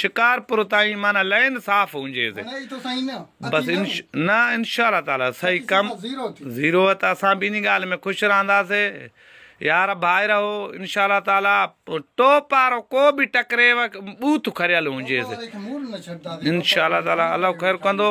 شڪارپور تائين معنيٰ لين صاف هونجي سي بس نه انشاءالله تعالي صحيح ڪم زيرو ته اسان به اني ڳالهه ۾ خوش رهندا سي يار ڀائي رهو انشاءالله تعالي ٽوپ وارو ڪو به ٽڪريو بوٿ کريل هونجي سي انشاءالله تعالي الله خير ڪندو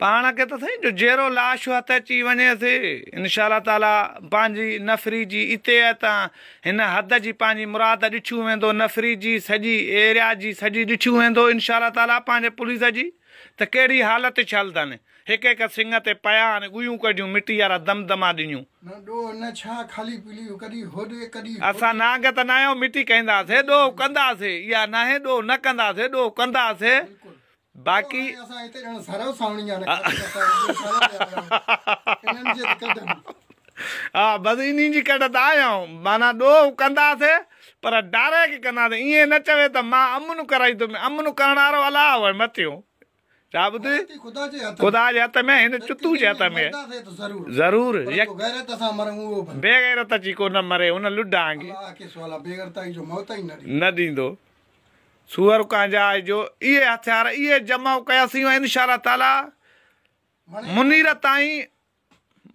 پاڻ کي ته سائين جو جيرو لاش هٿ اچي وڃي سي انشاء الله تعالي پنهنجي نفري جي اتي اتان هن حد جي پنهنجي مراد ڏٺيون ويندو نفري جي سڄي ايريا جي سڄي ڏٺيون ويندو انشاء الله تعالي پنهنجي پوليس جي ته ڪهڙي حالت ڇل ٿن هڪ هڪ سنگ تي پيا آهن ڳويون ڪڍيون مٽي وارا دم دما ڏنيون. نه ڏوهه نه ڇا خالي پلي ڪڏي هوڏ ڪڏي هوڏ. اسان نانگ ته ناهيون مٽي کائيندا سي ڏوهه ڪندا سي اها ناهي ڏوهه نه ڪندا سي ڏوهه ڪندا سي باقي اسان هتي ڄڻ سرو ساوڻي جا رکيا انهن جي ڪڍن ها بس انهن جي ڪڍ ته آيائون معنيٰ ڏوهه ڪنداسي پر ڊاريڪ ڪنداسي ائين نه چوي ته مان امن ڪرائي ٿو امن ڪرڻ وارو الله هو مٿيون ڇا ٻڌي خدا جي هٿ ۾ هن چتو جي هٿ ۾ ضرور بيغيرت اچي ڪو نه مري ان لڊانگ نه ڏيندو سوئر ڪانجاء جو اهي هٿيار اهي جمع ڪياسين ۽ انشاء الله تعاليٰ منير تائين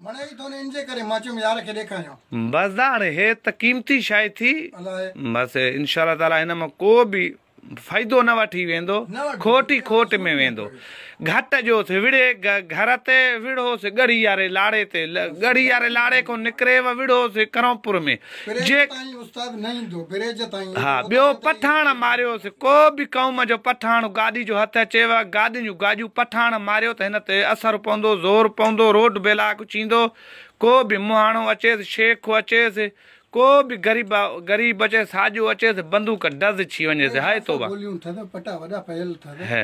مڙهي ئي ٿون انجي ڪري مان چيم يار کي ڏيکاريان. بس داڻي هي ته قيمتي شئي ٿي الائي. بس انشاء الله تعاليٰ هن مان ڪو به فائدو نه وٺي ويندو نه وٺي کٽ ئي کٽ ۾ ويندو گهٽ جو ٿي وڙهي گه گهر تي وڙهو سي ڳڙهي واري لاڙي تي ڳڙهي واري لاڙي کون نڪري و وڙهو سي ڪرونپور ۾ جي ها ٻيو پٺاڻ ماريو سي ڪو به قوم جو پٺاڻ گاڏي جو هٿ اچي و گاڏين جون گاڄون پٺاڻ ماريو ته هن تي اثر پوندو زور پوندو روڊ بلاڪ چيندو ڪو به مهاڻو اچيس شيخ اچيس ڪو به غريب غريب اچيس ساڄو اچيس بندوق ڊز ڇي وڃي سي هائي توبه هي